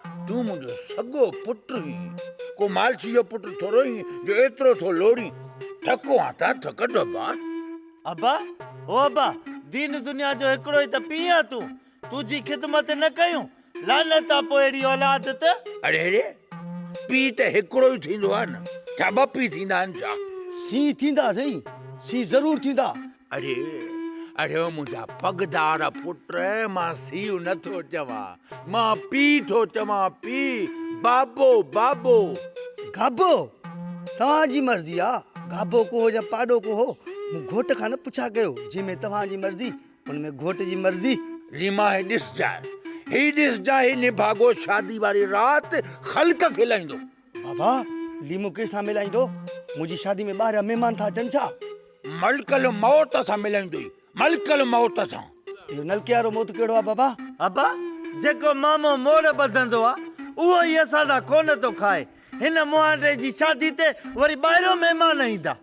تون منهنجو سڳو پٽ هين، ڪو مالچي جو پٽ ٿورو هين جو ايترو ٿو لوڙين. ٿڪو آن ته ٿڪ ڊبا. ابا، او ابا، دين دنيا جو هڪڙو ئي ته پيء آن تون، تنهنجي خدمت نه ڪيون، لعنت آ پوء اهڙي اولاد ته. اڙي اڙي، پيء ته هڪڙو ئي ٿيندو آ نه، ڇا ٻه پيء ٿيندا آهن ڇا؟ سين ٿيندا سهي، سين ضرور ٿيندا. اڙي اڙي او منهنجا پڳدار پٽ مان سيء نه ٿو چوان مان پيء ٿو چوان پيء بابو بابو. گابو! توهان جي مرضي آ گابو ڪوهو يا پاڏو ڪوهو مون گهوٽ کان نه پڇا ڪيو جنهن ۾ توهان جي مرضي ان ۾ گهوٽ جي مرضي. ريما هي ڏسجانء هي ڏسجانء هي نڀاڳو شادي واري رات خلق کي لهيندو. بابا ليمو ڪنهن سان ملائيندو؟ منهنجي شادي ۾ ٻاهريان مهمان ٿا اچن ڇا؟ ملڪ الموت سان ملائيندو، ملڪ الموت سان. اهو نلڪي وارو موت ڪهڙو آهي بابا؟ ابا جيڪو مامو موڙ ٻڌندو آ اهو ئي اسان سان ڪونه ٿو کائي، هن مهانڊي جي شادي تي وري ٻاهريان مهمان ايندا.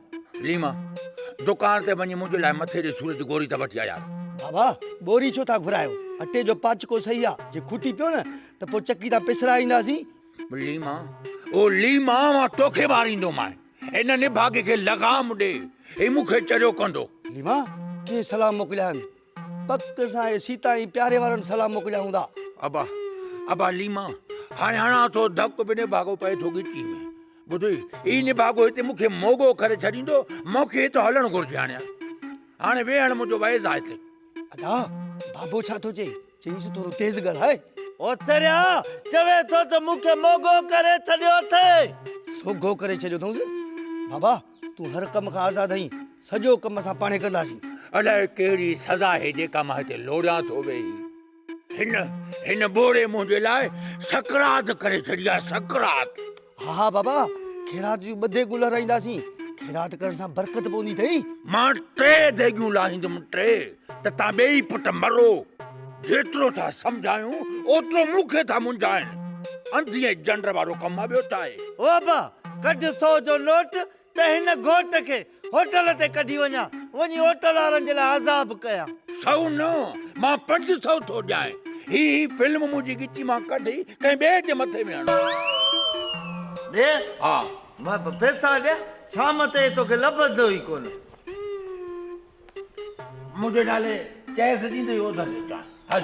ليما دڪان تي وڃي منهنجي لاء مٿي جي سور جي گوري ته وٺي آ يار. بابا ٻوري ڇو ٿا گهرايو، اٽي جو پاچڪو سهي آ، جي کوٽي پيو نه ته پوء چڪي تان پسرائينداسين. ليما او ليما مان توکي ماريندو مان ان نڀاڳي کي لغام ڏي هي مون کي چريو ڪندو ليما ڪي سلام موڪليا آهن پڪ سان هي سيتا ۽ پياري وارن سلام موڪليا هوندا ابا ابا ليما هاڻي هڻان ٿو ڌڪ به نڀاڳو پئي ٿو ڳچي ۾ ٻڌوئي هي نڀاڳو هتي مون کي موڳو ڪري ڇڏيندو مون کي هتو هلڻ گهرجي هاڻي هاڻي ويهڻ منهنجو ويز آهي هتي ادا بابو ڇا ٿو چئي چيائينس ٿورو تيز ڳالهاء. اوچريا چوي ٿو ته مون کي موڳو ڪري ڇڏيو اٿئي. سوگهو ڪري ڇڏيو اٿئونس. بابا تون هر ڪم کان آزاد آهين. سڄو ڪم اسان پاڻهي ڪنداسين. الائي ڪهڙي سزا آهي جيڪا مان هتي لوڙيان ٿو ويهي. هن هن ٻوڙي منهنجي لاء سڪرات ڪري ڇڏي آهي، سڪرات. ها ها بابا خيرات جون ٻه ديڳون لارائينداسين، خيرات ڪرڻ سان برڪت پوندي اٿئي. مان ٽي ديڳون لاهيندم ٽي ته تان ٻيئي پٽ مرو. جيترو ٿا سمجهايون اوترو مون کي ٿا منجهائن. انڌي ۽ جنڊ وارو ڪم آ ٻيو ڇا آهي. او ابا ڪڍ سو جو نوٽ ته هن گهوٽ کي هوٽل تي ڪڍي وڃان، وڃي هوٽل وارن جي لاء عذاب ڪيان. سؤ نه، مان پنج سؤ ٿو ڏيانء. هي هي فلم منهنجي ڳچي مان ڪڍي ڪنهن ٻئي جي مٿي ۾ هڻ. ڏي؟ ها. مان به پئسا ڏيان؟ شام تائين توکي لڀندو ئي ڪونه. منهنجي نالي چيس ڏيندي اوڌر ڏيجانء. هل.